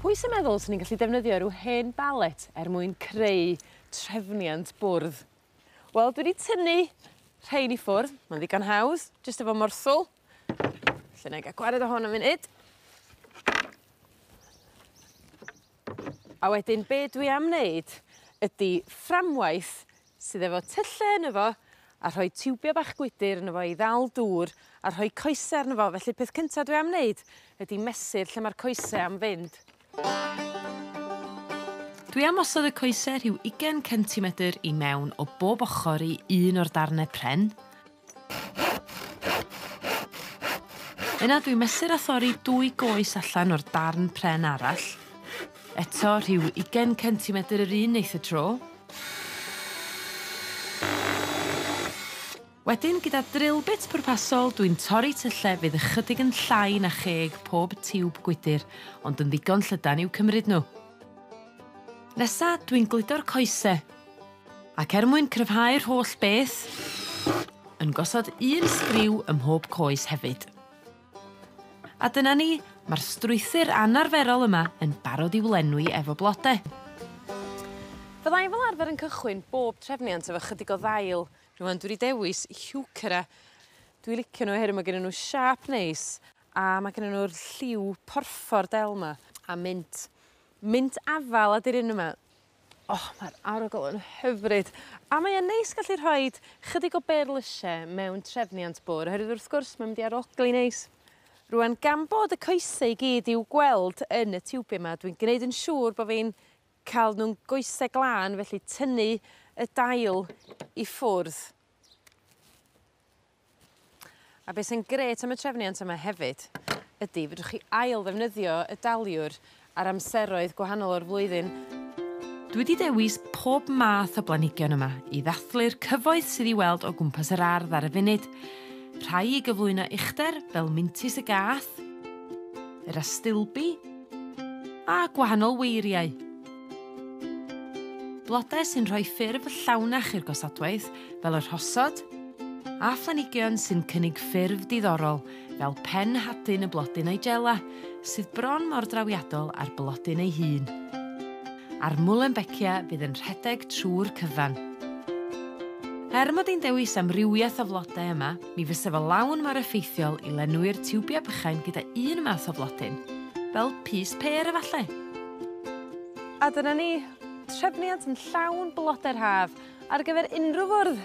Pwy sy'n meddwl swn i'n gallu defnyddio ryw hen balet er mwyn creu trefniant bwrdd? Wel dwi 'di tynnu rhein i ffwrdd ma'n ddigon hawdd jyst efo morswl felly 'nai ga'l gwared o hon am funud. A wedyn be' dwi am neud ydi fframwaith sydd efo tylle yno fo a rhoi tiwbia bach gwydyr yno fo i ddal dŵr a rhoi coese arno fo felly peth cynta dwi am neud ydi mesur lle ma'r coese am fynd. Dwi am osod y coese rhyw ugen centimedr i mewn o bob ochor i un o'r darne pren Yna dwi'n mesur a thorri dwy goes allan o'r darn pren arall. Eto rhyw ugen centimetr yr un neith y tro. Wedyn gyda drill bit pwrpasol dwi'n torri tylle fydd ychydig yn llai na cheg pob tiwb gwydyr ond yn ddigon llydan i'w cymryd n'w. Nesa dwi'n gludo'r coese. Ac er mwyn cryfhau'r holl beth, yn gosod un sgriw ym mhob coes hefyd. A dyna ni, ma'r strwythur anarferol yma yn barod i'w lenwi efo blode. Fydda i fel arfer yn cychwyn bob trefniant efo chydig o ddail. Rŵan dwi 'di dewis Heuchera. Dwi licio n'w oherwydd ma' gynnyn n'w siâp neis a ma' gynnyn n'w'r lliw porffor del 'ma. A mint. Mint afal ydi'r un yma. O ma'r arogl yn hyfryd a mae e'n neis gallu rhoid chydig o berlyse mewn trefniant bwr oherwydd wrth gwrs mae'n mynd i arogli neis. Rŵan gan bod y coese i gyd i'w gweld yn y tiwbie 'ma dwi'n gneud yn siŵr bo' fi'n ca'l nw'n goese glân felly tynnu y dail i ffwrdd. A be' sy'n grêt am y trefniant yma hefyd ydi fedrwch chi ail ddefnyddio y daliwr ar amseroedd gwahanol o'r flwyddyn. Dwi 'di dewis pob math o blanhigion yma i ddathlu'r cyfoeth sydd i weld o gwmpas yr ardd ar y funud, rhai i gyflwyno uchder fel mintys y gath, yr astilbi, a gwahanol weiriau. Blode sy'n rhoi ffurf llawnach i'r gosodwaith fel y rhosod a phlanhigion sy'n cynnig ffurf diddorol fel pen hadyn y blodyn nigella sydd bron mor drawiadol â'r blodyn ei hun. A'r muehlenbeckia fydd yn rhedeg trwy'r cyfan. Er mod i'n dewis amrywiaeth o flodau yma, Mi fysa fo lawn mor effeithiol i lenwi'r tiwbiau bychain gyda un math o flodyn, fel pys pêr efallai. A dyna ni, trefniant yn llawn blodau'r haf ar gyfer unrhyw fwrdd!